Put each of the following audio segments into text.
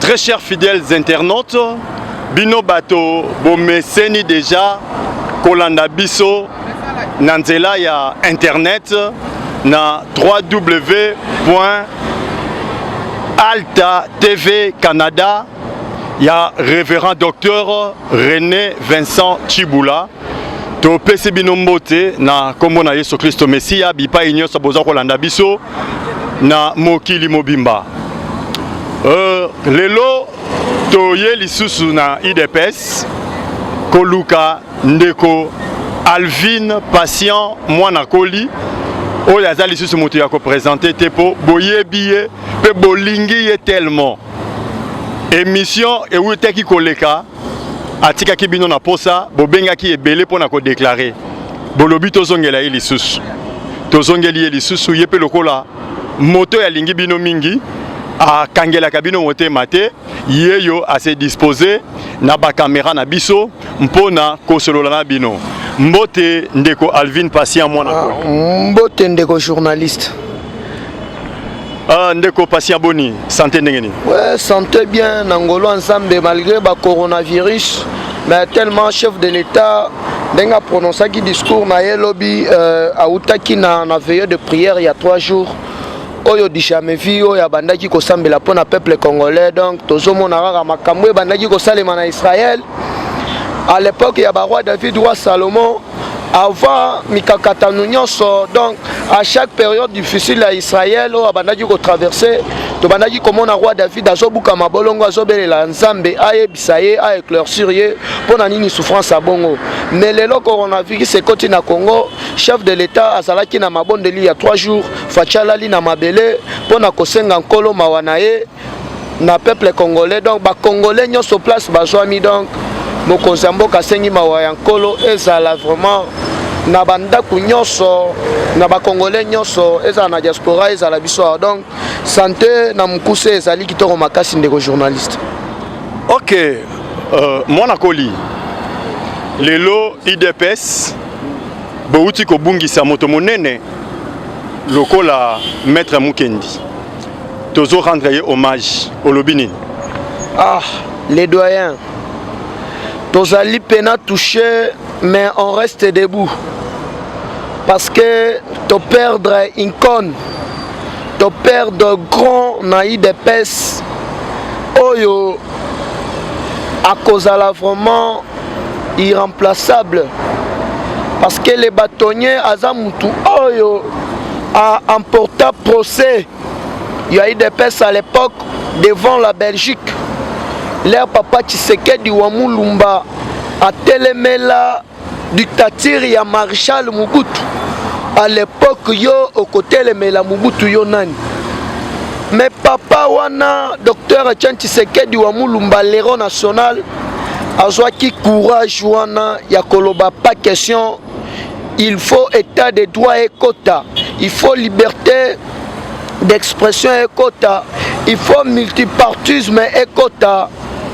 Très chers fidèles internautes, bino bato bomeseni deja kolanda biso na nzela ya internet na www.altatv-canada ya révérend docteur René Vincent Chibula topesi bino mbote na nkombo na yesu kristo mesiya bipai nyonso boza kolanda biso na mokili mobimba uh, lelo toye lisusu na idps koluka ndeko alvine patient mwana koli oyo aza lisusu moto ya kopresente te mpo boyebi ye mpe bolingi ye tellement émission ewutaki koleka atikaki bino na posa bobengaki ebele pona ko déclarer bolobi tozongela ye lisusu tozongeli ye lisusu ye pe lokola moto ya lingi bino mingi akangelaka bino motema te yeyo ase dispose na ba camera na biso mpona kosolola na bino mbote ndeko Alvin Patient mwana ah, mbote ndeko journaliste Ah, ndeko patient boni santé ndenge nini ouais, santé bien na ngolo ensemble malgré ba coronavirus mais tellement chef de l'état ndenge aprononsaki discours na ye lobi euh, awutaki na, na veilleux de prière ya 3 jours oyo du jamais vu oyo abandaki kosambela mpo na peuple congolais donc tozomona kaka makambo ebandaki kosalema na israël à l'époque ya baroi david roi salomon avant mikakatano nyonso donc à chaque période difficile ya israel oyo abandaki kotraverse tobandaki komona roi david azobuka mabolongo azobelela nzambe ayebisa ye aeclaircir ye mpo na nini souffrance ya bongo mais lelo coronavirus ekoti na congo chef de l'état azalaki na mabondeli ya 3 jours faci alali na mabele mpo na kosenga nkolo mawa na ye na peuple congolais donc ba congolais nyoso place bazwami donc mokonzi ya mboka asengi mawa ya nkolo ezala vraiment na bandako nyonso na bakongole nyonso ezala na diaspora ezala biso awa donc sante na mokuse ezali kitoko makasi ndeko journaliste ok uh, mwana koli lelo idps bouti kobungisa moto monene lokola maître mukendi tozo rendre ye hommage olobi nini ah les doyens tozali pena touche mais on reste debout parce que to perdre incone to perdre grand na idps oyo akozala vraiment irremplaçable parce que le bâtonnier aza mutu oyo a emporta procès ya idps à l'époque devant la belgique leur papa tshisekedi wa mulumba atelemela dictature ya marshal mobutu à l'époque yo okotelemela mobutu yo nani mais papa wana docteur etienne tshisekedi wa mulumba lero national azwaki courage wana ya koloba pas question il faut état de droit ekota il faut liberté d'expression ekota il faut multipartisme ekota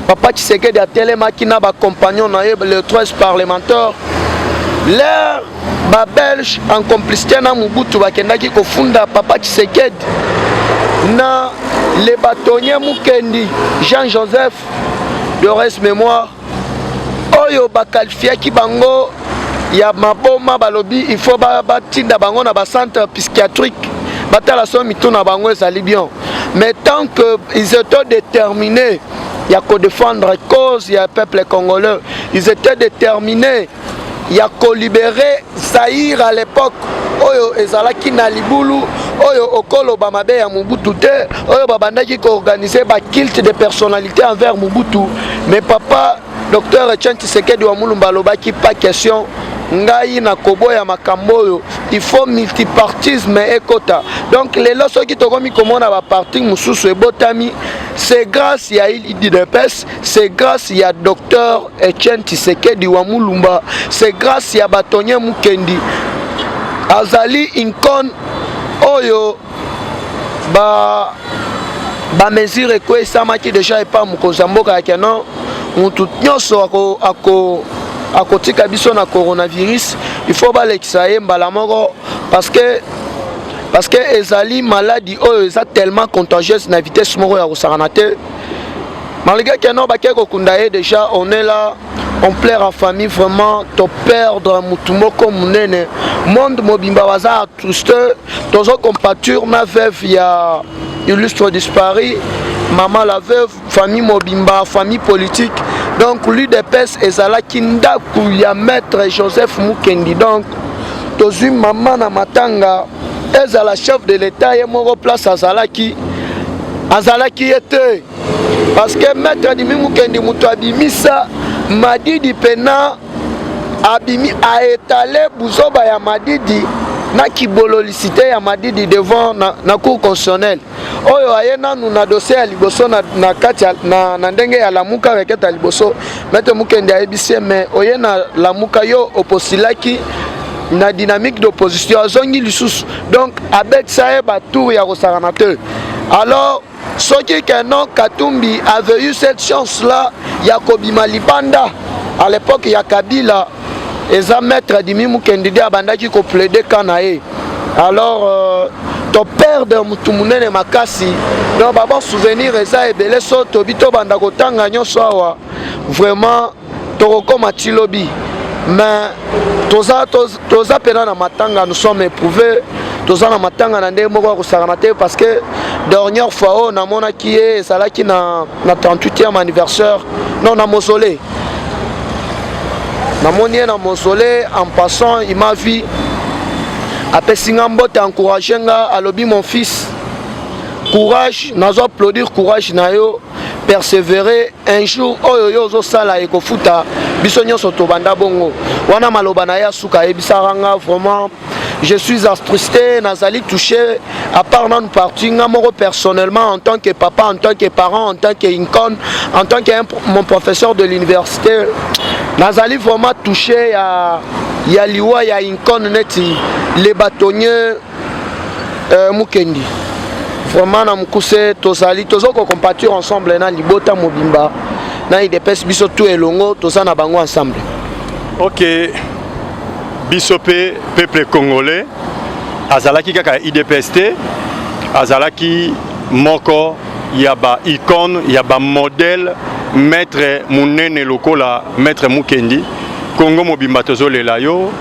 papa tshisekedi atelemaki na bacompagnon na ye le 13 parlementaire leur babelge en complicité na mobutu bakendaki kofunda papa tshisekedi na le batonnier mukendi jean joseph de reste mémoire oyo bakalfiaki bango ya maboma balobi il faut batinda ba bango na bacentre psychiatrique batala so mitu na bango ezali bien mais tant que ils étaient déterminés ya kodefendre cause ya peuple congolais ils étaient déterminés ya kolibere zaire à l'époque oyo ezalaki na libulu oyo okoloba mabe ya mobutu te oyo babandaki koorganize bakilte de personnalité envers mobutu mais papa docteur etienne tisekedi wa mulumba alobaki pas question ngai nakoboya makambo oyo il faut multipartisme ekota donc lelo soki tokomi komona baparti mosusu ebotami c'est grâce ya idps c'est grâce ya docteur Etienne Tshisekedi wa Mulumba, c'est grâce ya Batonye Mukendi azali incon oyo ba ba mesure ekwesamaki deja epa mokonzi ya mboka ya keno mutu nyonso ako, ako akotika biso na coronavirus il faut balekisa ye mbala moko parce que parce que ezali maladi oyo eza tellement contagieuse na vitesse moko ya kosakana te Malgré que non bakei kokunda ye déjà on est là on plaire en famille vraiment to perdre mutu moko munene monde mobimba baza atruste tozo compature na veuve ya illustre disparu mama la veuve famille mobimba famille politique donc l'udps ezalaki ndako ya maître joseph mukendi donc tozwi mama na matanga ezala chef de l'etat ye moko place azalaki azalaki ye te parce que maître adimi mukendi moto abimisa madidi pena abimi aetale buzoba ya madidi na kibololisite ya madidi devant na, na cour constitutionnelle oyo aye nanu na dossier ya liboso na, na kati ya, na, na ndenge ya lamuka requete ya liboso maitre mukende ayebisi ye mais oye na lamuka yo oposilaki na dynamique d'opposition azongi lisusu donc abetisa ye batour ya kosakana te alors soki ke non katumbi avait eu cette chance là ya kobima libanda à l'époque ya kabila eza maître adimi mukendi de abandaki ko plaide ka na ye alors euh, toperde motu monene makasi donc baba souvenir eza ebele so tobi tobanda kotanga nyonso awa vraiment tokokoma ti lobi mais toza, toza, toza pena na matanga nous sommes éprouvé toza na matanga na ndenge moko ya kosakana te parce que dernière fois oyo namonaki ye ezalaki na, na 38e anniversaire non na mausolée namoni ye na mausolée en passant il m'a vu apesi nga mbote encourage nga alobi mon fils courage nazo applaudir courage na yo persévérer un jour oyo yo ozosala ekofuta biso nyonso tobanda bongo wana maloba na ye ya suka ayebisaka nga vraiment je suis astrusté nazali touché à part nanu parti nga moko personnellement en tant que papa en tant que parent en tant que incon en tant que mon professeur de l'université nazali vraiment touché ya ya liwa ya incon neti le bâtonnier euh, mukendi vraiment na mokuse tozali toza kocompatir ensemble na libota mobimba na idps biso tu elongo toza na bango ensemble okay. biso pe peuple congolais azalaki kaka ya idps te azalaki moko ya ba icone ya ba modèle maître munene lokola maître mukendi congo mobimba tozolela yo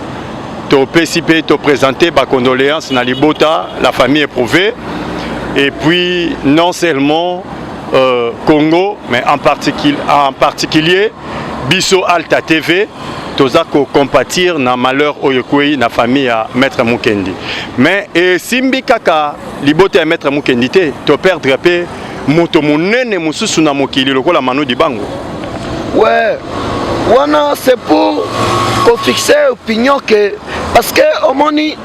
topesi mpe topresente bacondoléance na libota la famille éprouvé et puis non seulement euh, congo mais en, particu en particulier biso alta tv toza ko compatir na malheur oyo ekwei na famille ya maître Mukendi mais esimbi kaka libota ya maître Mukendi te to perdre pe moto monene mosusu na mokili lokola Manu Dibango ouais wana c'est pour ko fixer opinion que parce que omoni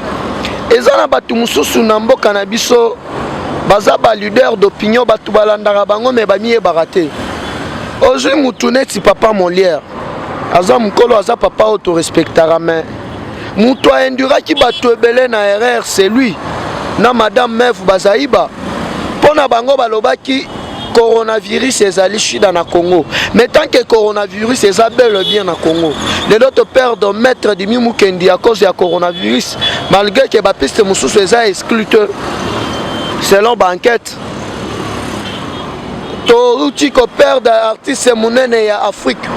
eza na bato mosusu na mboka na biso baza ba leader d'opinion bato balandaka bango me bamiyebaka te ozwi mutu neti papa molière aza mokolo aza papa oyo torespectaka me moto aenduraki bato ebele na erreur c'est lui na madame meve bazaiba mpo na bango balobaki coronavirus ezali shida na congo mais tant que coronavirus eza bele bien na congo lelo toperdre maître dimi mukendi à cause ya coronavirus malgré ke bapiste mosusu eza exclute selon baenquête touti koperde artiste monene ya afrique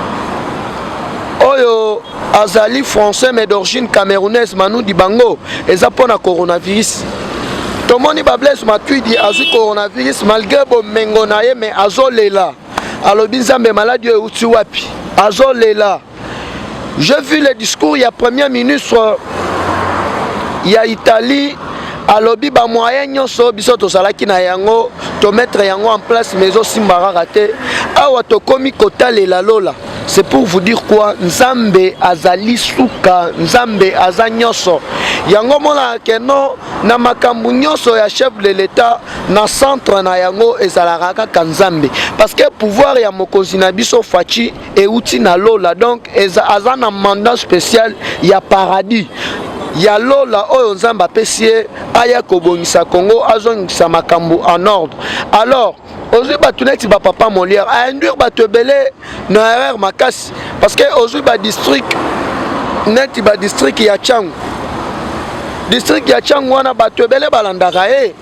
oyo azali français mais d'origine camerounaise manu dibango eza mpo na coronavirus tomoni bablaise matuidi azwi coronavirus malgré bomengo na ye mais azolela alobi nzambe maladi oyo euti wapi azolela J'ai vu le discours ya premier ministre ya Italie alobi ba moyen nyonso biso tozalaki na yango tomettre yango en place mais ezosimba kaka te awa tokomi kotalela lola c'est pour vous dire quoi nzambe azali suka nzambe aza nyonso yango omonaka ke no na makambo nyonso ya chef de l'etat na centre na yango ezalaka kaka nzambe parce que pouvoir ya mokonzi na biso faci euti na lola donc eza aza na mandat spécial ya paradis ya lola oyo nzambe apesi ye aya kobongisa congo azongisa makambo en ordre alors ozwi bato neti bapapa molière ainduire bato ebele na erreur makasi parce que ozwi badistrict neti badistrict ya changu district ya changu wana bato ebele balandaka ye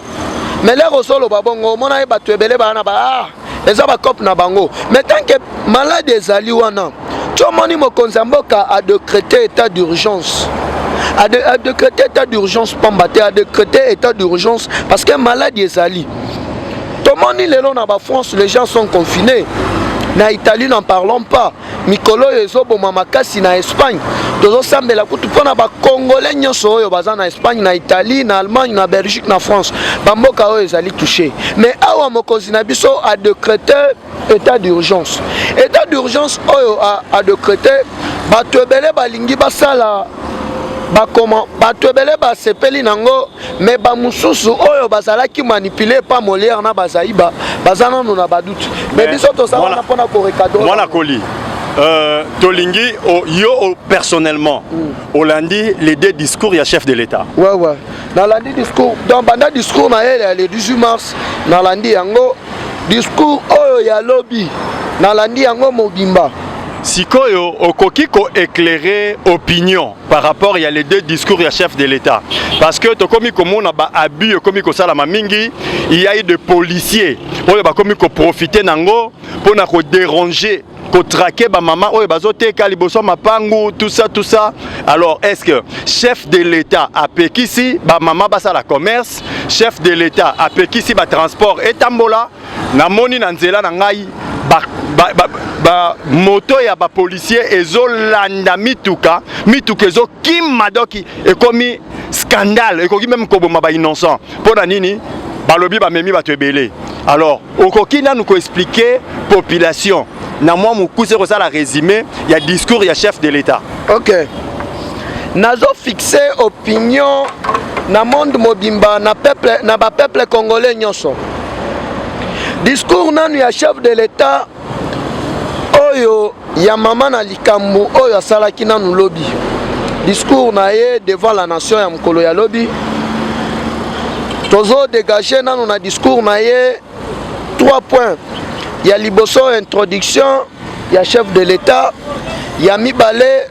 mais lere ozoloba bongo omona ye bato ebele bana ba ah, eza ba cope na bango mais tant que malade ezali wana tomoni mokonzi ya mboka a decrete état d'urgence a decrete état d'urgence pamba te a decrete état d'urgence parce que malade ezali tomoni lelo na ba france les gens sont confinés na italie n'en parlons pas mikolo oyo ezoboma makasi na espagne tozosambela kutu mpo na bakongole nyonso oyo baza na espagne na italie na allemagne na belgique na france bamboka oyo ezali touche mais awa mokonzi na biso adecrete état d'urgence état d'urgence oyo adecrete bato ebele balingi basala bakoma bato ebele basepeli nango mais bamosusu oyo bazalaki manipule pa molière na bazaiba baza nano na baduti mais biso toza wana mpo na korekadre mwana koli Euh, tolingi oh, yo oh, personnellement mm. olandi les deux discours ya chef de l'état ouais, ouais. nalandi discours donc banda discours na ye le 18 mars nalandi yango discours oyo ya lobi nalandi yango mobimba sikoyo okoki koeclaire opinion par rapport ya les deux discours ya chef de l'État parce que tokomi komona ba abus ekomi kosalama mingi il y a eu de policiers oyo bakomi koprofite nango mpo na koderange kotrake bamama oyo bazoteka liboso ya mapangu tout ça tout ça alors est ce que chef de l'état apekisi bamama basala commerce chef de l'état apekisi batransport etambola namoni na nzela na ngai ba, ba, ba, ba moto ya ba policier ezolanda mituka mituka ezokima doki ekomi scandale ekoki meme koboma ba innocent mpo na nini balobi bamemi bato ebele alors okoki nanu koexplike population na mwa mokuse kosala résumé ya discours ya chef de l'état ok nazo fixe opinion na monde mobimba na peuple na ba peuple congolais nyonso discours nanu ya chef de l'etat oyo ya mama na likambo oyo asalaki nanu lobi discours na ye devant la nation ya mokolo ya lobi tozo dégage nanu na discours na ye 3 points ya liboso introduction ya chef de l'etat ya mibale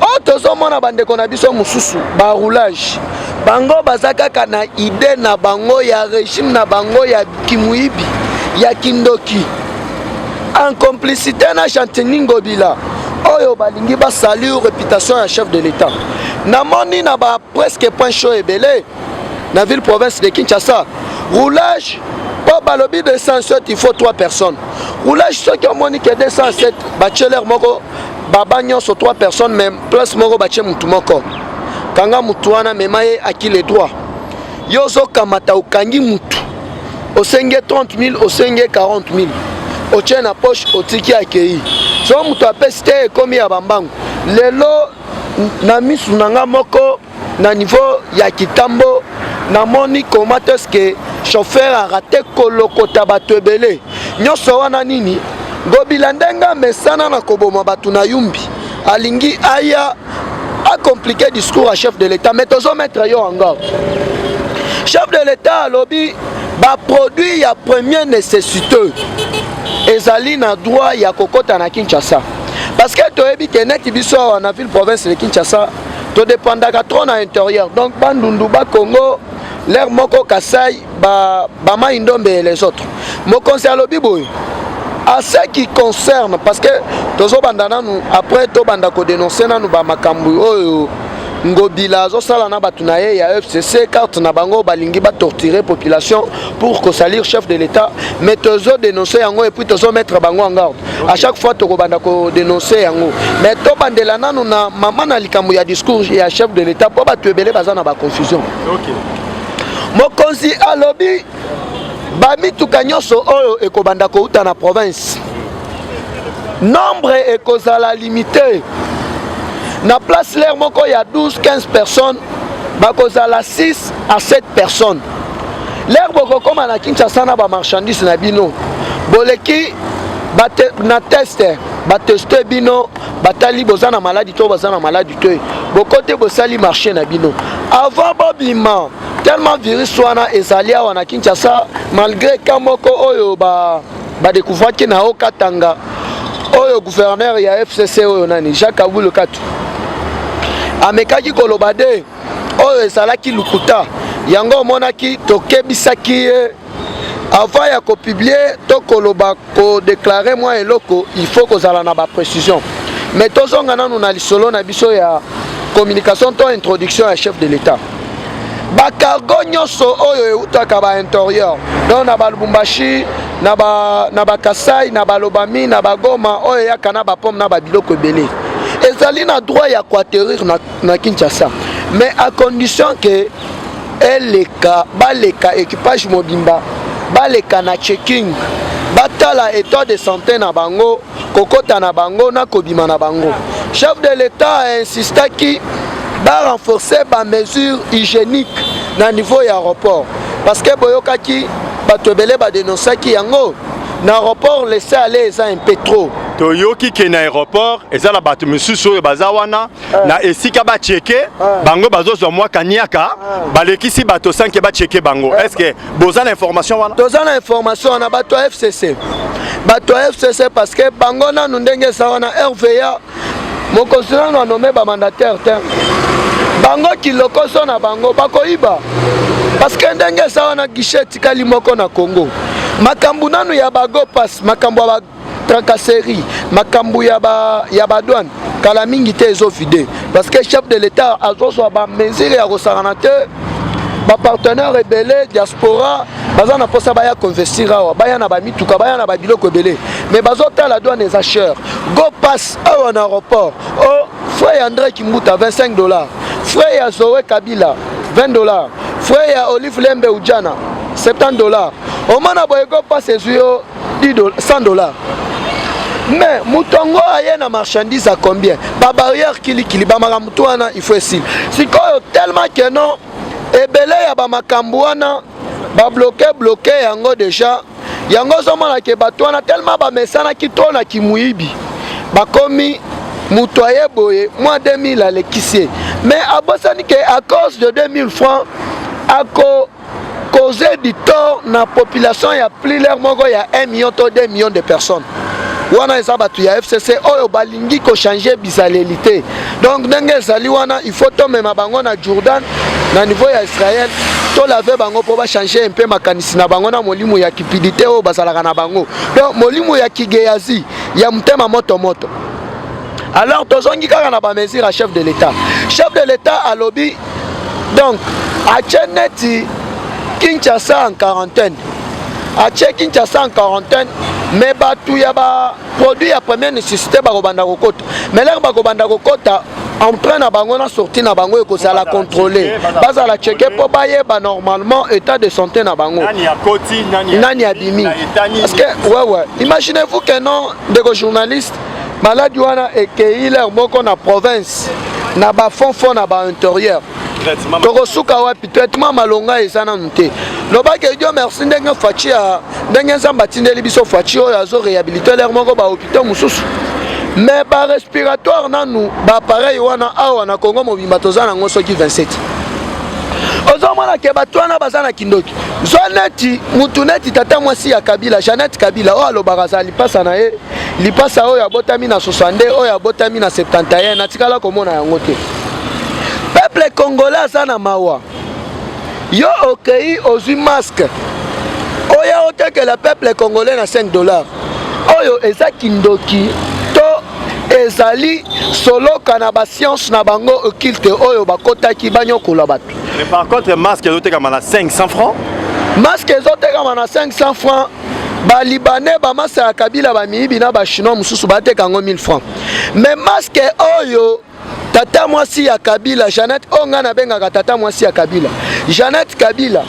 oyo oh, tozomona bandeko na biso mosusu baroulage bango baza kaka na ide na bango ya regime na bango ya kimuibi ya kindoki en complicité na chantini ngobila oyo balingi basalir réputation ya chef de l'état namoni na ba presque point chaud ebele na ville province de kinshasa roulage mpo balobi 207 il faut 3 personnes roulage soki omoni ke 207 bacheler moko baba nyonso 3 personnes mais place moko batie motu moko kanga motu wana mema ye aki le droit yo ozokamata okangi motu osengi 30 000 osengi 40 000 otie na poche otiki akei so moto apesi te ekomi ya bambangu lelo na misu na nga moko na niveau ya kitambo namoni comment est ce que chauffeur arate kolokota bato ebele nyonso wana nini ngobila ndenge amesana na koboma bato na yumbi alingi aya acomplike discours ya chef de l'état mais tozometre yo yango chef de l'état alobi baproduit ya première nécessité ezali na droit ya kokɔta na kinshasa parce que toyebi ke neti biso awa na ville province de kinshasa to dépendaka trop na intérieur donc bandundu ba congo lere moko kasai bamai ba ndombe et les autres mokonzi alobi boye à ce qui concerne parce que tozobanda nanu après tobanda kodenonse nanu bamakambo oyo ngobila azosala na bato na ye ya fcc carte na bango balingi batortire population pour kosalir chef de l'état mais tozodenonse yango epuis tozomettre bango en garde à chaque fois tokobanda kodenonse yango mais tobandela nanu na mama na likambo ya discours ya chef de l'état mpo bato ebele baza na baconfusion mokonzi alobi bamituka nyonso oyo ekobanda kouta na province nombre ekozala limite na place lere moko ya 12 15 personnes bakozala 6 à 7 personnes lere bokokoma na kinshasa na bamarchandise na bino boleki bate, na teste bateste bino batali boza na maladi to baza na maladi te bokote bosali marché na bino avant bobima tellement virus wana ezali awa na kinshasa malgré ka moko oyo badekouvraki ba na o katanga oyo gouverneur ya fcc oyo nani jacques abulukatu amekaki koloba de oyo ezalaki lokuta yango omonaki tokebisaki ye avant ya kopublie to koloba kodeklare mwa eloko il faut kozala na baprécision mais tozonga nanu na lisolo na biso ya communication to introduction ya chef de l'état bacargo nyonso oyo eutaka bainterieur donc na balubumbashi na bakasai na balobami na bagoma oyo eyaka na bapome na babiloko ebele ezali na droit ya koaterrir na na kinshasa mais à condition que eleka baleka équipage mobimba baleka na checking batala état de santé na bango kokota na bango na kobima na bango chef de l'état a insistaki barenforcer bamesure hygiénique na niveau ya aéroport parce que boyokaki bato ebele badenonsaki yango na aéroport laisse aller eza un peu trop toyoki ke na aéroport eza na bato mosusu oyo baza wana eh. na esika ba cheke eh. bango bazo zwa mwa kaniaka eh. balekisi bato sans que ba cheke bango est-ce que boza na information wana toza na information wana bato ya FCC bato ya FCC parce que bango nanu ndenge eza wana RVA mokonzi nanu anome ba mandataire te bango kilokoso na bango bakoyiba parce que ndenge eza wana guichet etikali moko na Congo makambo nanu ya bago pass makambo ya tracasserie makambo ya ba ya ba douane kala mingi te ezo vide parce que chef de l'état azozwa ba mesure ya kosangana te ba partenaire ebele diaspora baza na mposa baya koinvestir awa baya na bamituka baya na babiloko ebele mais bazotala douane eza cher go pass awa na aéroport o oh, frais ya andré kimbuta 25 dollars frais ya zoe kabila 20 dollars frais ya olive lembe ujana 70 dollars omona boye go pass ezwi yo 100 dollars mais moto yango aye na marchandise a combien babarrière kilikili bamakambo moto wana il faut esili sikoyo tellement que non ebele ya bamakambo wana babloke bloke yango deja yango ozomona ke bato wana tellement bamesanaki to na kimuyibi bakomi moto aye boye mwa 2000 alekisi ye mais abosani ke à cause de 2000 francs ako cause du tort na population ya pliler moko ya 1 million to 2 million de personnes wana eza bato ya fcc oyo balingi kochange bizaleli te donc ndenge ezali wana il faut tomema bango na jourdan na niveau ya israel tolave bango mpo bachange mpe makanisi na bango na molimo ya kipidite oyo bazalaka na bango donc molimo ya kigeyazi ya motema moto moto alors tozongi kaka na bamesure ya chef de l'état chef de l'état alobi donc atie neti kinshasa en quarantaine atie kinshasa en quarantaine me bato ya baproduit ya première nécessité bakobanda kokota me lere bakobanda kokota entrée na bango na sortie na bango ekozala contrôle bazala cheke mpo bayeba normalement état de santé na bango nani abimi parce que wewe imaginez vous que non ndeko journaliste maladi wana ekeyi lere moko na province na bafond fond na bainterieur tokosuka wapi traitement malonga eza nanu te lobaki edio merci ndenge faci ya ndenge nzambe atindeli biso faci oyo azo réhabilite lere moko bahopitau mosusu me barespiratoire nanu baappareil wana awa na congo mobimba toza nango soki 27 ozomona ke bato wana baza na kindoki zwa neti mutu neti tata mwasi ya kabila janete kabila oyo alobaka azala lipasa na ye lipasa oyo abotami na 62 oyo abotami na 71 natikala komona yango te peuple congolais aza na mawa yo okei ozwi masque oya otekela peuple congolais na 5 dollar oyo eza kindoki to ezali soloka na basiance na bango okilte oyo bakotaki banyokola bato mais par contre masque ezotekama na 500 francs masque ezotekama na 500 francs ba libanais ba masa ya kabila ba miyibi na ba chinois mususu ba teka yango 1000 francs mais masque oyo tata mwasi ya kabila Jeannette oyo ngai nabengaka tata mwasi ya kabila Jeannette kabila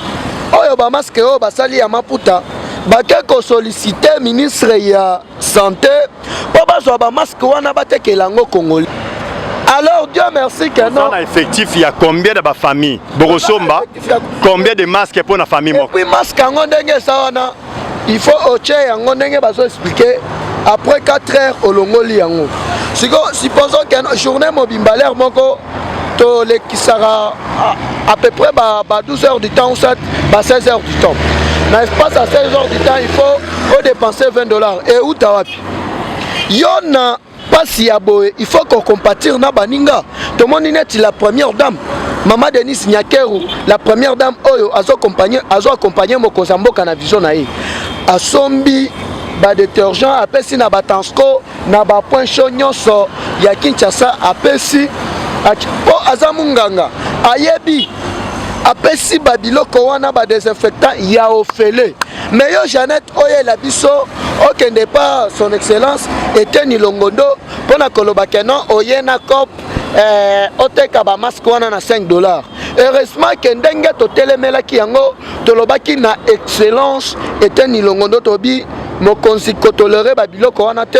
oyo ba masque oyo basali ya maputa bake kosolicite ministre ya sante mpo bazwa bamaske wana batekela yango congolais alors dieu merci que non na effectif ya combien de bafamille bokosomba combien de masque mpo na famille moko epuis masque yango ndenge eza wana il faut otie yango ndenge bazo explike après 4 heures olongoli yango sikoyo supposons que journée mobimba lere moko tolekisaka à peu près ba, ba 12 heures du temps ou soit ba 16 heures du temps na espace à 16 heures du temps il faut odepenser 20 dollars e uta wapi yo na mpasi ya boye il faut kocompatir na baninga tomoni neti la première dame mama denise nyakeru la première dame oyo azo accompagne mokonzi ya mboka na vision na ye asombi badetergent apesi na batansco na ba point chaud nyonso ya Kinshasa apesi mpo aza munganga ayebi apesi ba biloko wana ba desinfectant ya ofele me yo jeannette oyela biso okende pa son excellence eteni longondo mpo na koloba ke non oye na cop eh, oteka bamaske wana na 5 dollars heureusement ke ndenge totelemelaki yango tolobaki na excellence eteni ilongo ndo tobi mokonzi kotolere babiloko wana te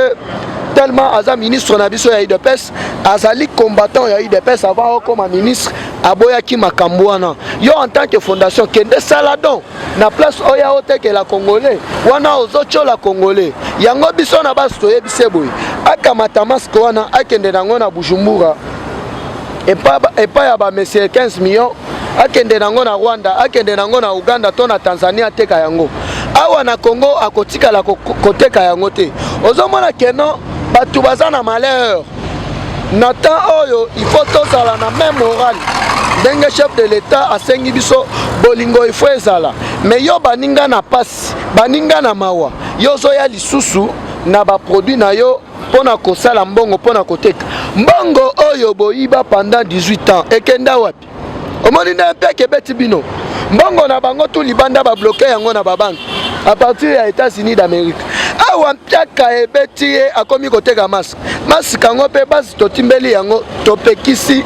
tellement aza ministre na biso ya udps azali combattant ya udps avant okoma ministre aboyaki makambo wana yo en tant que fondation kende sala don na place oya otekela congolais wana ozotyola congolais yango biso na basi toyebise boye akamata maske wana akende nango na bujumbura epai ya bamesire 15 million akende nango na rwanda akende nango na uganda to na tanzania ateka yango awa na congo akotikala koteka yango te ozomona keno bato baza na malheur na temps oyo il faut tozala na même morale ndenge chef de l'état asengi biso bolingo ifo ezala me yo baninga na mpasi baninga na mawa yo ozoya lisusu na baproduit na yo mpo na kosala mbongo mpo na koteka mbongo oyo boyiba pendant 18 ans ekenda wapi omoni nde mpeke ebeti bino mbongo na bango tu libanda babloke yango na babanke a partir ya états-unis d'amérique awa mpiaka ebeti ye akomi koteka maske maske yango mpe basi totimbeli yango topekisi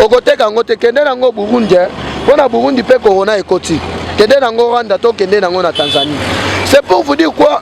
okoteka yango te kende nango burundi eh. mpo na burundi mpe corona ekoti kende nango rwanda to kende nango na tanzanie c'est pour vous dire quoi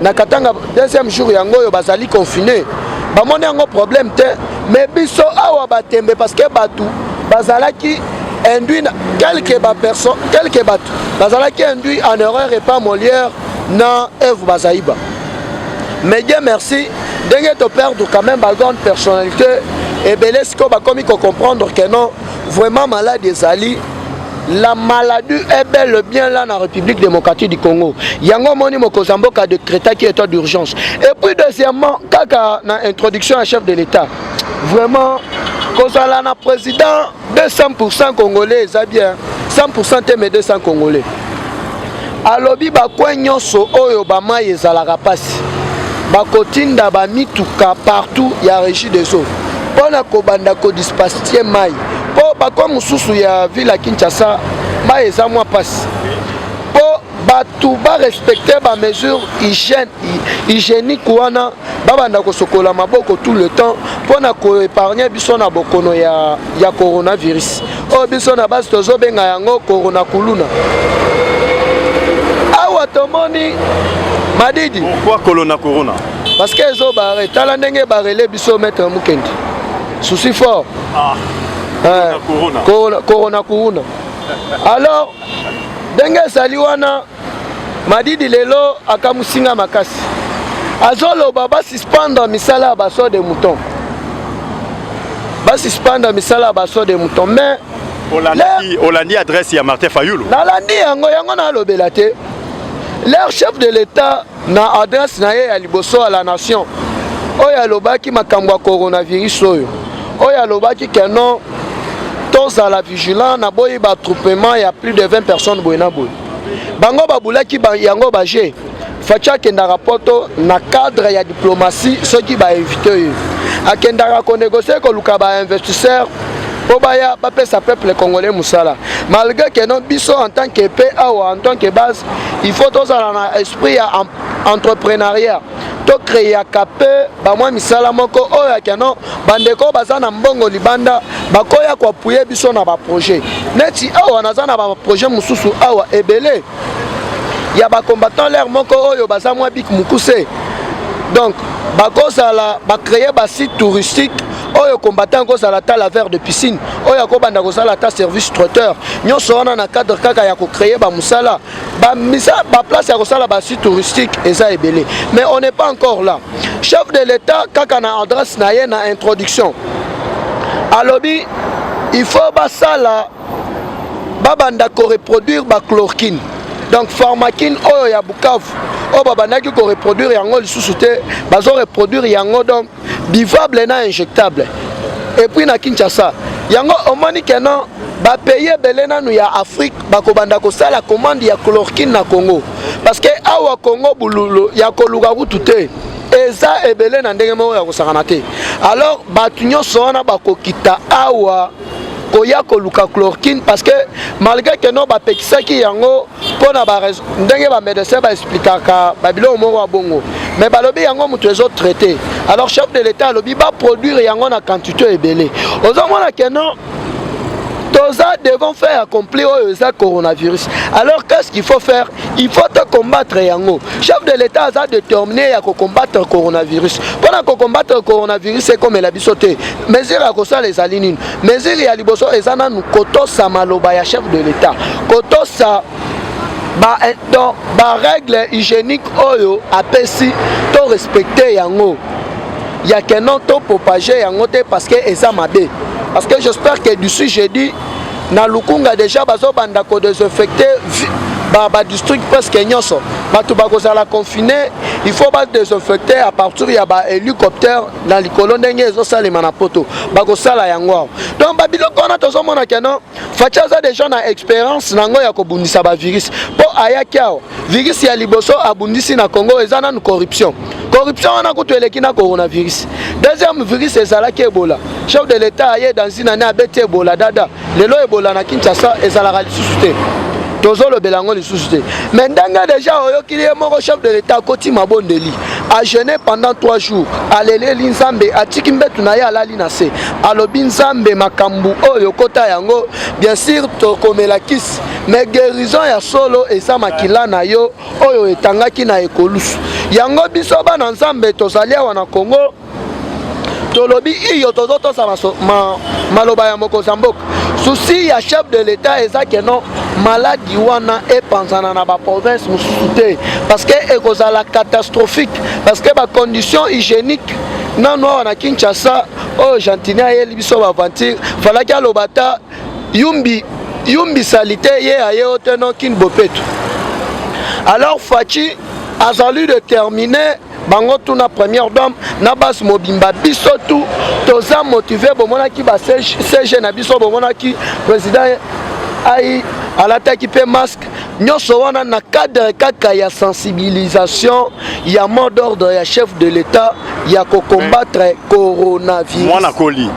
na katanga deuxième jour yango oyo bazali confine bamoni yango problème te mais biso awa batembe parce que bato bazalaki induit quelque baperson quelque bato bazalaki induit en erreur epa molière na eve bazaiba mais dieu merci ndenge toperdre quand même bagrande personnalité ebele sikoyo bakomi kocomprendre que non vraiment malade ezali La maladie est bel et bien là na République démocratique du Congo. Yango moni mokonzi ya mboka decretaki état d'urgence. Et puis deuxièmement, kaka na introduction ya chef de l'État. Vraiment kozala na président 200% congolais eza bien 100% te mais 200 congolais. Alobi ba coin nyonso oyo ba mai ezalaka pasi bakotinda ba mituka partout ya regie des eaux mpo na kobanda kodispastie mai mpo bakoin mosusu ya ville ya Kinshasa mai eza mwa pasi mpo bato barespecte ba mesure hygiène hygiénique wana babanda kosokola maboko tout le temps mpo na koepargne biso na bokono ya, ya coronavirus oyo oh, biso na basi tozobenga yango corona kuluna awa tomoni madidi pourquoi corona corona parce que ezobare tala ndenge barele biso maître mukendi souci fort ah. eh, corona corona alors ndenge ezali wana Madidi lelo akamusi nga makasi, azoloba basuspendre misala ya baso de mouton, basuspendre misala ya baso de mouton mais olandi, olandi adresse ya Martin Fayulu, nalandi yango yango nalobela te leur chef de l'etat Na adresse na ye ya liboso à la nation, oyo alobaki makambo ya coronavirus oyo, oyo alobaki que non tozala vigilant, naboyi ba attroupement ya plus de 20 personnes boye na boye. Bango babulaki ba, yango ba jeu. Fatshi akendaka poto na cadre ya diplomatie soki ba invite ye. Akendaka ko negocier koluka ba investisseurs mpo baya bapesa peuple congolais mosala malgré que non biso en tant que pe awa en tant que base il faut tozala na esprit ya entrepreneuriat tokreaka mpe bamwa misala moko oyo ya keno bandeko baza na mbongo libanda bakoya koapuye biso na baprojet neti awa naza na baprojet mosusu awa ebele ya ba combattant l'air moko oyo baza mwa bik mokuse donc bakozala bacreye basite touristique oyo combattant akozala ata laver de piscine oyo akobanda kosala ata service traiteur nyonso wana na cadre kaka ya kocreye bamosala baplace ya kosala basite touristique eza ebele mais on n'est pas encore là chef de l'état kaka na adresse na ye na introduction alobi il faut basala babanda koreproduire bachlorkine donc pharmakine oyo ya bukavu oyo babandaki koreproduire yango lisusu te bazo reproduire yango donc bivable na injectable epuis na kinshasa yango omoni keno bapays ebele nanu ya afrique bakobanda kosala commande ya chlorkine na congo parce que awa congo bululu ya koluka kutu te eza ebele na ndenge moko ya kosakana te alors bato nyonso wana bakokita awa koya koluka chlorkine parce que malgré que non bapekisaki yango mpo na ndenge bamédecin baexplikaka babiloko moko ya bongo mais balobi yango moto ezo traite alors chef de l'état alobi baproduire yango na quantité ebele ozomona ke non toza devant faire accompli oyo eza coronavirus alors qu'est ce qu'il faut faire il faut to combattre yango chef de l'état aza déterminé ya ko combattre coronavirus mpo na ko combattre coronavirus ekomela biso te mesure ya kosala ezali nini mesure ya liboso eza nanu kotosa maloba ya chef de l'état kotosa ba, eh, donc, ba règle hygiénique oyo apesi to respecte yango ya kenon to propage yango te parce que eza mabe parce que j'espère que d'ici jeudi na lukunga deja bazobanda kodesinfecte badistrict ba presque nyonso bato bakozala confine il faut badesinfecte à partir ya bahélicoptère na likolo ndenge ezosalema na poto bakosala yango awa donc babiloko wana tozomona keno faci aza deja na expérience na yango ya kobundisa bavirus mpo ayaki awa virus ya liboso abundisi na congo eza nanu corruption corruption wana kutu eleki na coronavirus deuxième virus ezalaki ebola chef de l'état aye dans une année abeti ebola dada lelo ebola na kinshasa ezalaka lisusu te tozolobela yango lisusu te mais ndenge deja oyokili ye moko chef de l'état akoti mabondeli ajeune pendant 3 jours aleleli nzambe atiki mbetu na ye alali na se alobi nzambe makambo oyo okota yango bien sur tokomela kisi mais guérison ya solo eza makila na yo oyo etangaki na ekolusu yango biso bana nzambe tozali awa na kongo tolobi iyo tozotosa ma, maloba ya mokonzi ya mboka susi ya chef de l'etat eza ke non maladi wana epanzana na baprovince mosusu te parce que ekozala catastrophique parce que bacondition hygiénique nano awa na kinshasa oyo gentini ayeli biso baventure falaki aloba ata yumbi yumbi salite ye aye ote no kin bopetu alors faci azali de terminer bango tout na première dame na base mobimba biso tout toza motivé bomonaki ba CG na biso bomonaki président ai alataki mpe masque nyonso wana na cadre kaka ya sensibilisation ya mot d'ordre ya chef de l'etat ya kocombattre coronavirus mwana koli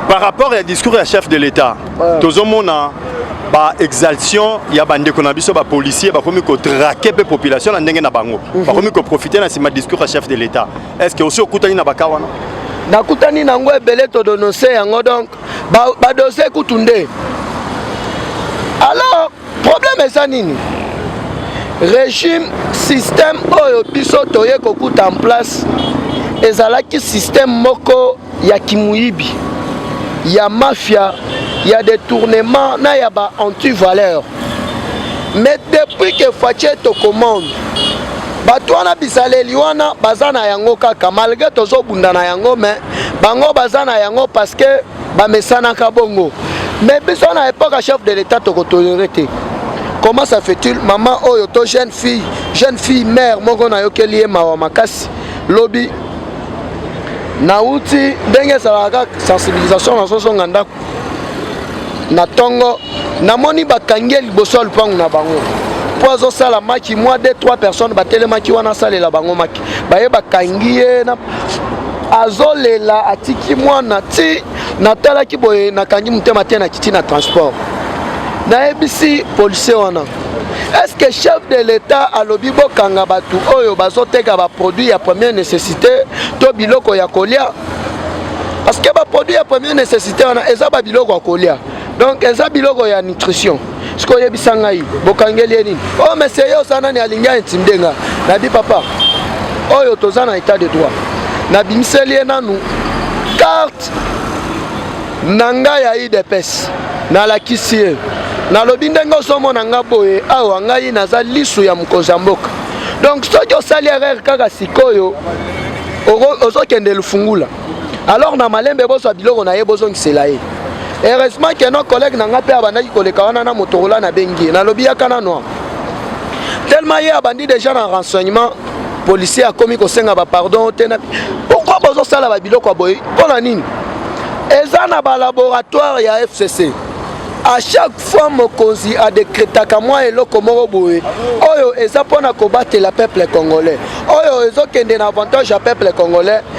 par rapport ya discours ya chef de l'etat ouais. tozomona ba exaltation ya bandeko na biso bapolicier bakomi kotrake mpe population na ndenge na bango mm -hmm. bakomi koprofite na nsima discours ya chef de l'etat est ce que osi okutani na baka wana nakutani na yango ebele todonose yango donc ba, ba dose kutu nde alors problème eza nini régime système oyo biso toye kokuta en place ezalaki système moko ya kimuyibi ya mafia ya détournement na ya ba antivaleur mais depuis que fatie tocommande bato wana bizaleli wana baza na yango kaka malgré tozobunda na yango mais bango baza na yango parce que bamesanaka bongo mais biso na epoque ya chef de l'état tokotolere te comment ça fait-il maman oyo to jeune fille jeune fille mère moko nayokeli ye mawa makasi lobi nauti ndenge ezalaka kaka sensibilisation nazozonga ndako na ntongo namoni bakangi ye liboso ya lupangu na bango mpo azosala maki mwa 2 3 personnes batelemaki wana asalela bango maki baye bakangi ye azolela atiki mwana ti natalaki boye nakangi motema te na kiti na transport nayebisi policier wana est-ce que chef de l'état alobi bokanga bato oyo bazoteka baproduit ya première nécessité to biloko ya kolia parce que baproduit ya première nécessité wana eza babiloko ya kolia donc eza biloko ya nutrition sikoyo yebisa ngai bokangeli ye nini o oh, mesie ye oza nani alingi aintimide nga nabi papa oyo toza na état de droit nabimiseli ye nanu karte na ngai ya idps nalakisi ye nalobi ndenge ozomona nga boye awa ngai naza lisu ya mokonzi ya mboka donc soki osali erreur kaka sikoyo ozokende lufungula alors na malembe bozwa biloko na ye bozongisela ye heureusement ke no collègue na ngai mpe abandaki koleka wana na motorola nabengi ye nalobi yaka nano tellement ye abandi déjà na renseignement policier akomi kosenga bapardon te pourkui bozosala babiloko ya boye mpo na nini eza na balaboratoire ya fcc à chaque fois mokonzi adekretaka mwa eloko moko boye oyo eza mpo na kobatela peuple congolais oyo ezokende na avantage ya peuple congolais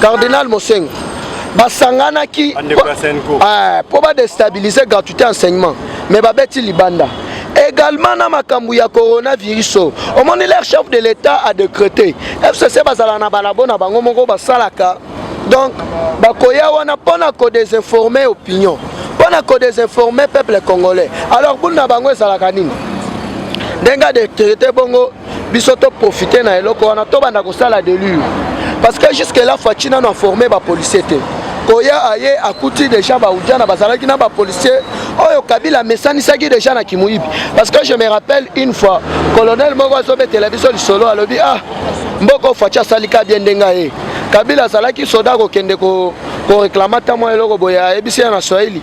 cardinal mosengo basanganaki ah, mpo badestabilize gratuité enseignement mais babeti libanda également na makambo ya coronavirus oyo omoni leur chef de l'état a décrété fcc bazala na balabo na bango moko basalaka donc bakoya wana mpo na kodesinforme opinion mpo na kodesinforme peuple congolais alors bulu na bango ezalaka nini ndenge adekrete bongo biso to profite na eloko wana tobanda kosala delure parce que jusque là faci nano aforme bapolicier te koya aye akuti deja baudiana bazalaki na bapolicier oyo kabila amesanisaki deja na kimoyibi parce que je me rappelle une fois colonel moko azobetela biso lisolo alobi ah mboko faci asalika bien ndenge aye kabila azalaki soda kokende ko koreklama ata mwa eloko boye ayebisi ya na swahili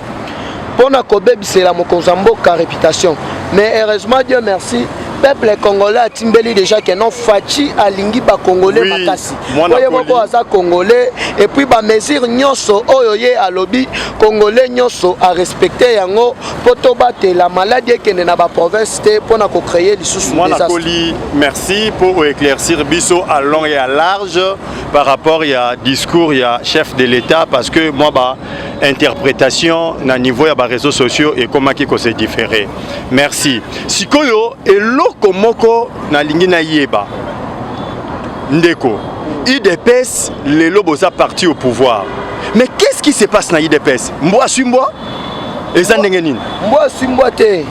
mpo na kobebisela mokonzi ya mboka reputation mais heureusement dieu merci peuple congolais atimbeli déjà que non faci alingi bacongolais makasi po ye moko aza congolais epuis bamesure nyonso oyo ye alobi congolais nyonso arespecte yango mpo tobatela maladi ekende na baprovince te mpo na kocreye lisusu mwanakoli merci mpo oéclaircir biso à long et à large par rapport ya discours ya chef de l'état parce que mwa ba interpretation na niveau ya ba réseaux sociaux ekomaki ko se différer merci sikoyo eloko moko nalingi nayeba ndeko udps lelo boza parti au pouvoir mais qu'est-ce qui se passe na udps mbwa aswi mbwa eza ndenge nini mbwa aswi mbwa te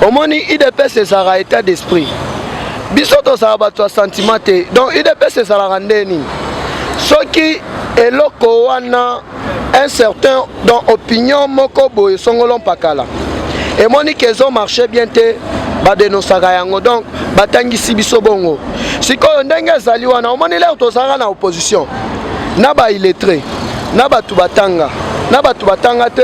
omoni udps ezalaka état d'esprit biso tozala bato ya sentiment te donc udps ezalaka nde nini soki eloko wana un certain dans opinion moko boye songolo mpakala emoni ke ezo marche bien te badenosaka yango donc batangisi biso bongo sikoyo ndenge ezali wana omoni lere tozalaka na opposition na baillettre na bato batanga na bato batanga te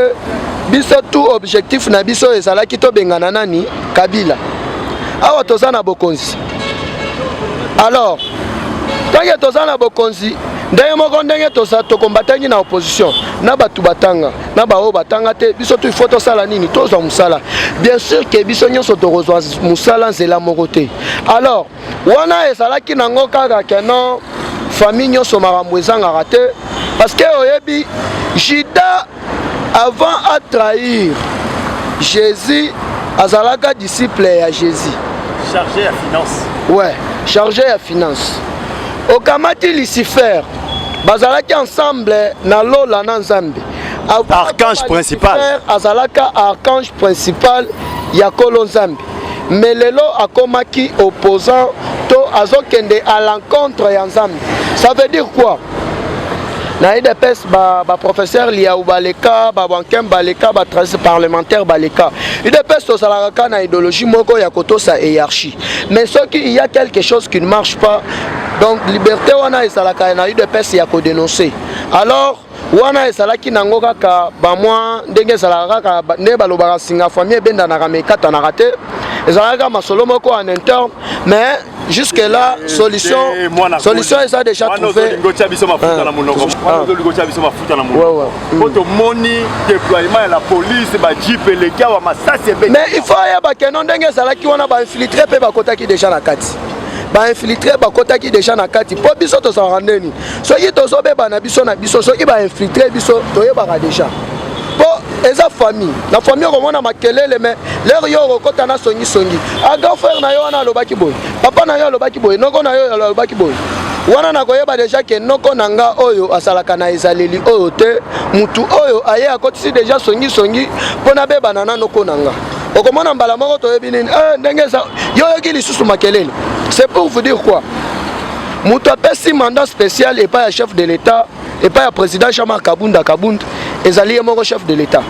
biso tu objectif na biso ezalaki tobengana nani kabila awa toza na bokonzi alors ntange toza na bokonzi ndenge moko ndenge tosa tokombatangi na opposition na bato batanga na baoyo batanga te biso tu ifo tosala nini tozwa mosala bien sûr ke biso nyonso tokozwa mosala nzela moko te alors wana ezalaki nango kaka ke non famille nyonso makambo ezangaka te parce que oyebi juda Avant a trahir Jésus, azalaka disciple ya Jésus. Chargé ya finance. Ouais, chargé ya finance. Okamati Lucifer, bazalaki ensemble na lola na Nzambe. Archange principal. Azalaka archange principal ya Kolo Nzambe. mais lelo akomaki opposant to azokende à l'encontre ya nzambe ça veut dire quoi na idps baprofesseur ba liau baleka babankem baleka batrase parlementaire baleka idps tozalaka kaka na idéologie moko ya kotosa hierarchie mais soki il y a quelque chose qui ne marche pas donc liberté wana ezalaka na udps ya kodenonce alors wana ezalaki nango kaka bamwa ndenge ezalaka kaka nde balobaka nsinga famille ebendanaka me ekatanaka te ezalaki kaka masolo moko en interne mais jusque là eh, solution eh, eh, solution eza déjà trouvé po tomoni déploiement ya la police bajipe eleki awa masasi ebe mais il faut ayeba keno ndenge ezalaki wana bainfiltre mpe bakotaki déjà na kati bainfiltre bakotaki déjà na kati mpo biso tozalaka ndeni soki tozobeba na biso na biso soki bainfiltre biso toyebaka deja mpo eza famille na famille okomona makelele me lere yo okokota na songisongi a ah, grand frère na yo wana alobaki boye papa na yo alobaki boye noko na yo alobaki boye wana nakoyeba deja ke noko na nga oyo asalaka na ezaleli oyo te motu oyo aye akotisi deja songisongi mpo nabebana na noko na nga okomona mbala moko toyebi nini eh, ndenge yo oyoki lisusu makelele c'est pour vous dire quoi moto apesi mandat spécial epai ya chef de l'état epai ya président jean-marc kabunda kabund ezali ye moko chef de l'état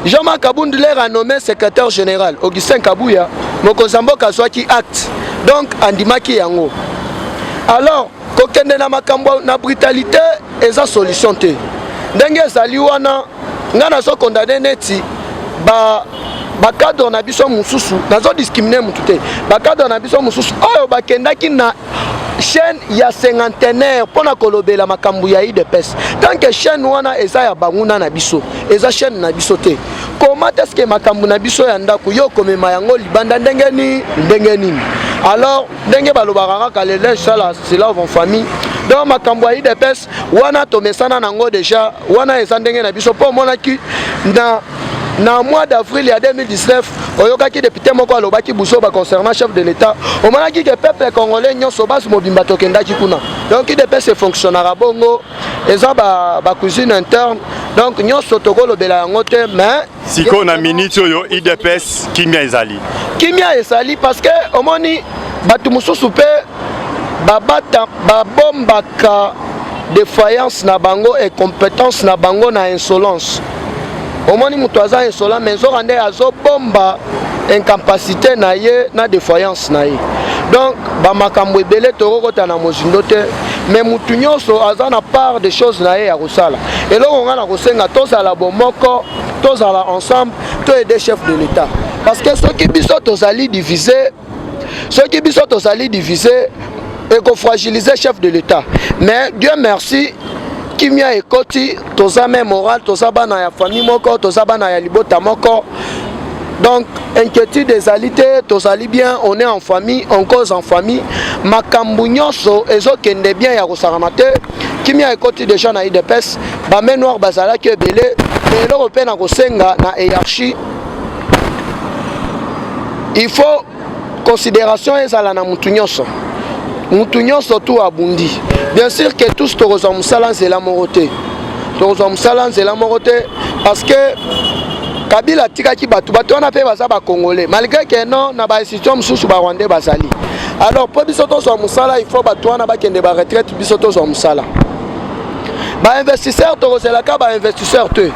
jean-marc kabund lere anommé secrétaire général augustin kabuya mokonzi ya mboka azwaki acte donc andimaki yango alors kokende na makambo na brutalité eza solution te ndenge ezali wana ngai nazo condamne neti ba bacadre na biso mosusu nazo discrimine motu te bacadre na biso mosusu oyo bakendaki na chaîne ya cinquantenaire mpo na kolobela makambo ya udps tant que chaîne wana eza ya banguna na biso eza chaîne na biso te koma teske makambo na biso ya ndako yo okomema yango libanda ndenge nini ndenge nini alors ndenge balobaka kaka le linge sala selave en famille donc makambo ya udps wana tomesana nango deja wana eza ndenge na biso mpo omonaki na na mois d'avril ya 2019 oyokaki depute moko alobaki buzoba concernant chef de l'état omonaki ke peuple congolais nyonso basi mobimba tokendaki kuna donc idps efonctionnaka bongo eza bacousine ba interne donc nyonso tokolobela yango te mais sikoyo na miniti oyo udps kimia ezali kimia ezali parce que omoni bato mosusu mpe babombaka defiance na bango incompétence na bango na insolence omoni moto aza insolent mais nzoka nde azobomba incapacité na ye na defiance na ye donc bamakambo ebele tokokota na mozindo te mais mutu nyonso aza na part de choses na ye ya kosala eloko ngai na kosenga tozala bomoko tozala ensemble to aide chef de l'état parce que soki biso tozali divise soki biso tozali divise ekofragilize chef de l'état mais dieu merci kimia ekoti toza meme moral toza bana ya famille moko toza bana ya libota moko donc inquiétude ezali te tozali bien on est en famille on cause en famille makambo nyonso ezokende bien ya kosakana te kimia ekoti deja na idps bame noir bazalaki ebele me eloko mpe na kosenga na hierarchie il faut consideration ezala na mutu nyonso mutu nyonso tu abundi bien sûr que tous tokozwa mosala nzela moko te tokozwa mosala nzela moko te parce que kabila atikaki bato bato wana mpe baza bacongolais malgré que non na bainstitution mosusu barwandais bazali alors mpo biso tozwa mosala il faut bato wana bakende baretraite biso tozwa mosala ba investisseur tokozelaka ba investisseur te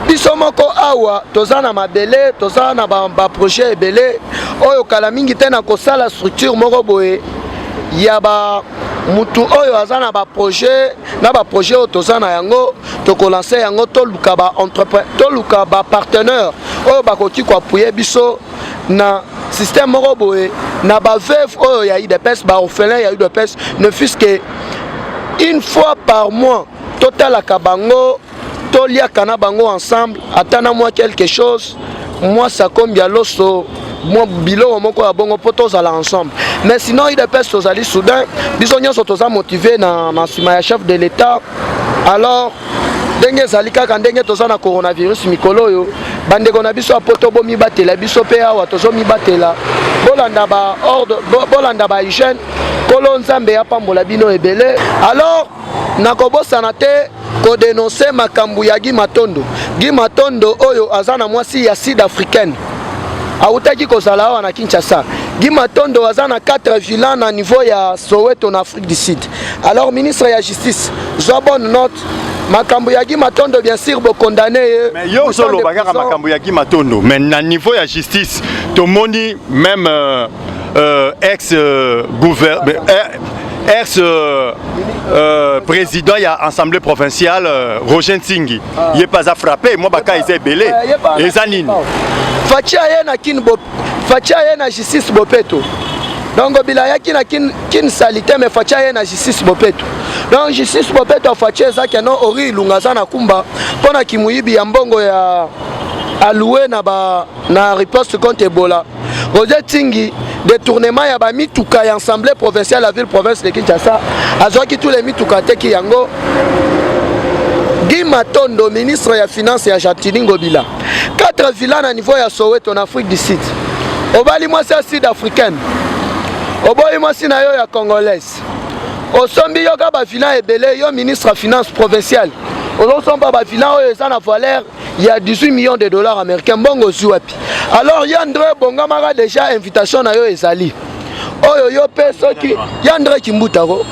biso moko awa toza na mabele toza na baprojet ba ebele oyo kala mingi te na kosala structure moko boye ya ba mutu oyo aza na baprojet na baprojet oyo toza na yango tokolanse yango toluka bapartenaire oyo bakoki koapuye biso na système moko boye na baveuve oyo ya udps baorphelin ya udps ne fuse que une fois par mois totalaka bango toliaka na bango ensemble ata na mwa quelque chose mwasi akombi ya loso mwa biloko moko ya bongo mpo tozala ensemble mais sinon udps tozali soudain biso nyonso toza motive na nsima ya chef de l'état alors ndenge ezali kaka ndenge toza na coronavirus mikolo oyo bandeko na biso ya poto bomibatela biso mpe awa tozomibatela bolanda ba ordre bolanda ba hygiène nkolo nzambe apambola bino ebele alors nakobosana te kodenonse makambo ya gi matondo gi matondo oyo aza na mwasi ya sud africaine awutaki kozala awa na kinshasa gi matondo aza na 4 villan na niveau ya soweto na afrique du sud Alors ministre ya justice, zwa bonne note makambo ya Guy Matondo bien sûr bo condamner ye. Mais yo ozoloba kaka makambo ya Guy Matondo, mais na niveau ya justice tomoni même euh, euh, ex euh, gouverneur euh, ex euh, euh, président ya assemblée provinciale euh, Roger Nsingi ah. ye pas a frappé moi baka eza ebele eh, eza nini Fachi aye na kin bo Fachi aye na justice bopeto donc bila yaki na kin kin salite me faci aye na justice bopeto donc justice bopeto faci eza keno ori ilunga aza na kumba mpo na kimoyibi ya mbongo ya aloue na, ba, na riposte contre ebola roger tingi détournement ya bamituka ya assemblée provinciale ya ville province de kinshasa azwaki tous les mituka ateki yango guy matondo ministre ya finance ya gentini ngobila 4 villa na niveau ya soweto na afrique du sud obali mwasi ya sud africaine oboyi mwasi na yo ya congolaise osombi yo ka bavilla ebele yo ministre ya finance provinciale ozosomba bavilla oyo eza na valeur ya 18 millions de dollars américain mbongo ozwi wapi alors yo andre ebongamaka déjà invitation na yo ezali oyo yo mpe soki ya andre kimbuta ko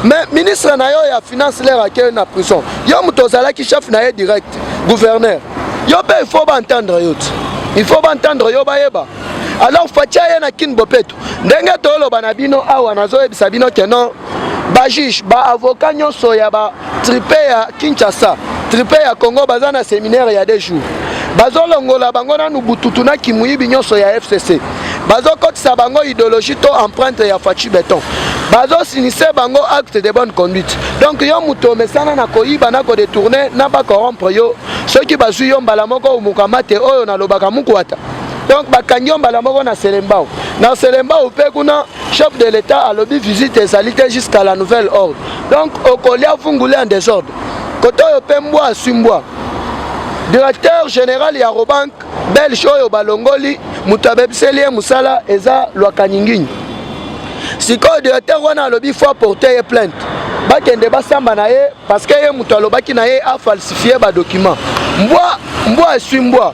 mais ministre na yo ya finance lere akei na prison yo moto ozalaki chef na ye direct gouverneur yo mpe il faut baentendre yo ti il faut baentendre yo bayeba alors fatia ye na kin bopeto ndenge tooloba na bino awa nazoyebisa bino ke non ba juge ba avocat nyonso ya ba tripe ya kinshasa tripe ya congo baza na seminaire ya de jour bazolongola bango nanu bututu na kimuyibi nyonso ya fcc bazokotisa bango idéologie to empreinte ya faci beton bazosinise bango acte de bonne conduite donc yo moto omesana na koyiba na kodetourne na bacorompre yo soki bazwi yo mbala moko omukama te oyo nalobaka mukuata donc bakangi yo mbala moko na selembao na selembao mpe kuna chef de l'etat alobi visite ezali te jusqu'à la nouvelle ordre donc okolia vungule en désordre kote oyo mpe mbwa aswi mbwa directeur général ya robank belge oyo balongoli moto abebiseli ye mosala eza lwakanyinginyi sikoyo directeur wana alobi fo aporte ye plainte bakende basamba na ye parce que ye moto alobaki na ye afalsifie badocument mbwa mbwa eswi mbwa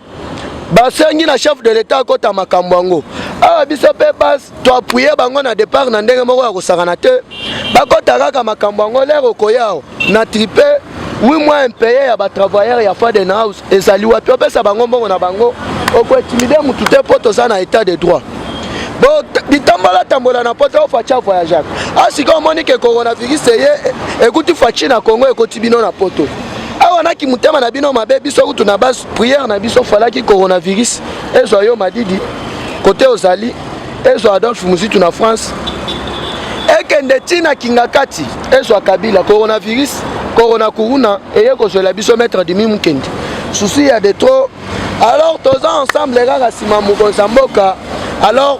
basengi na chef de l'etat akota makambo yango awa biso mpe base toapuye bango na départ na ndenge moko ya kosakana te bakota kaka makambo yango lere okoya awa na tripe wi mwa impeye ya batravailleur ya faden house ezali wapi opesa bango mbongo na bango okoetimide motu te mpo toza na état de droit bitambola tambola na poto faci avoyageaka asika ah, omoni ke coronavirus eye ekuti faci na congo ekoti bino na poto awa na kimotema na bino mabe biso kutu na basi prière na biso falaki coronavirus ezwa yo madidi kote ozali ezwa adolphe muzitu na france ekende ti na kingakati ezwa kabila coronavirus corona kuruna eye kozwela biso maître dimi mokende susi ya de trop alors toza ensemble kaka nsima mokonzi ya mboka alors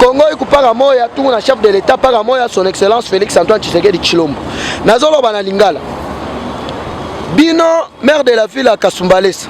Congo ikupaka moya tungu na chef de l'etat paka moya son excellence Felix Antoine Tshisekedi Tshilombo. Nazoloba na lingala. Bino maire de la ville ya Kasumbalesa.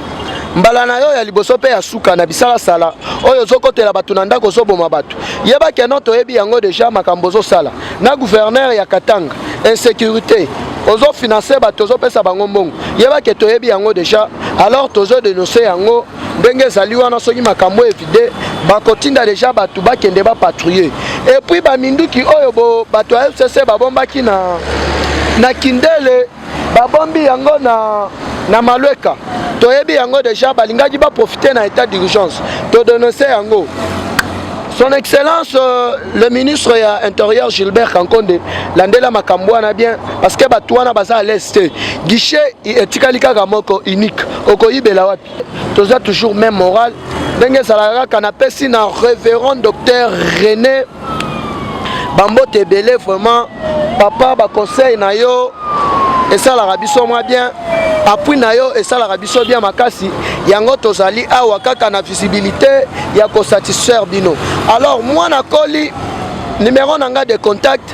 Mbala na yo ya liboso mpe ya suka na bisalasala oyo ozokotela bato na ndako ozoboma bato yeba keno toyebi yango deja makambo ozosala na gouverneur ya Katanga insécurité ozofinanse bato ozopesa bango mbongo yeba ke toyebi yango deja alors tozodenonse yango ndenge ezali wana soki makambo evide bakotinda deja bato bakende bapatrouille epuis baminduki oyo bo bato ya fcc babombaki na, na kindele babombi yango na, na malweka toyebi yango deja balingaki baprofite na état d'urgence todononse yango son excellence euh, le ministre ya intérieur gilbert kankonde landela makambo wana bien parce que bato wana baza à l'est te guichet etikali kaka moko unique okoyibela wapi toza toujours même moral ndenge ezalaka kaka napesi na révérend docteur rené bambote ebele vraiment papa baconseil na yo esalaka biso mwa bien appui na yo esalaka biso bien makasi yango tozali awa kaka na visibilité ya kosatisfaire bino alors mwana koli numero na ngai de contact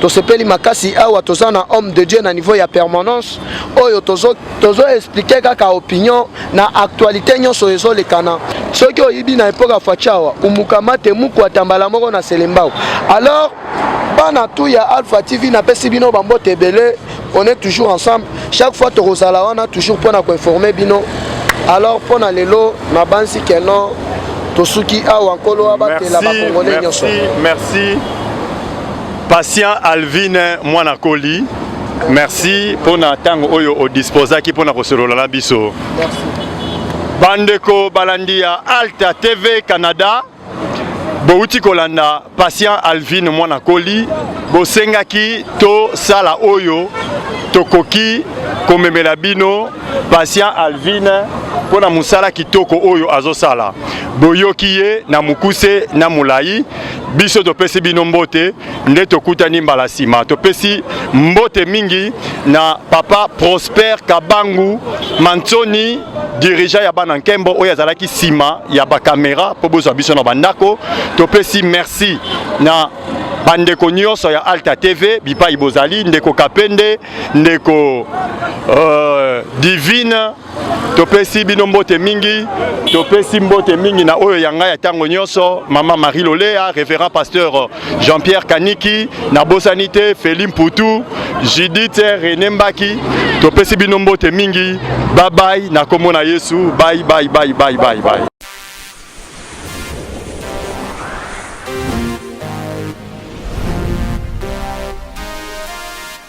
tosepeli makasi awa toza na homme de dieu na niveau ya permanence oyo tozo, tozo explike kaka opinion na actualité nyonso ezolekana soki oyibi na epoke ya fachawa umukamate muku atambala moko na selembao alors bana tu ya alpha tv napesi bino bambote ebele on est toujours ensemble chaque fois tokozala wana toujours mpo na koinforme bino alors mpo na lelo nabanzi ke non tosuki awa nkolo abatela bakongole nyonso merci patient alvine mwana koli merci mpo na ntango oyo odisposaki mpo na kosolola na biso bandeko balandi ya alta tv canada bowuti kolanda patient Alvine mwana koli bosengaki tosala oyo tokoki komemela bino patient Alvine mpo na mosala kitoko oyo azosala boyoki ye na mokuse na molai biso topesi bino mbote nde tokutani mbala nsima topesi mbote mingi na papa prosper kabangu mansoni dirigeant ya bana nkembo oyo azalaki nsima ya bakamera mpo bozwa biso na bandako topesi merci na bandeko nyonso ya alta tv bipai bozali ndeko kapende ndeko euh, divine topesi bino mbote mingi topesi mbote mingi na oyo ya ngai ya ntango nyonso mama marie lolea révérend pasteur jean pierre kaniki nabosani te feli mputu judith rene mbaki topesi bino mbote mingi babai na nkombo na yesu bai bai bai bai bai bai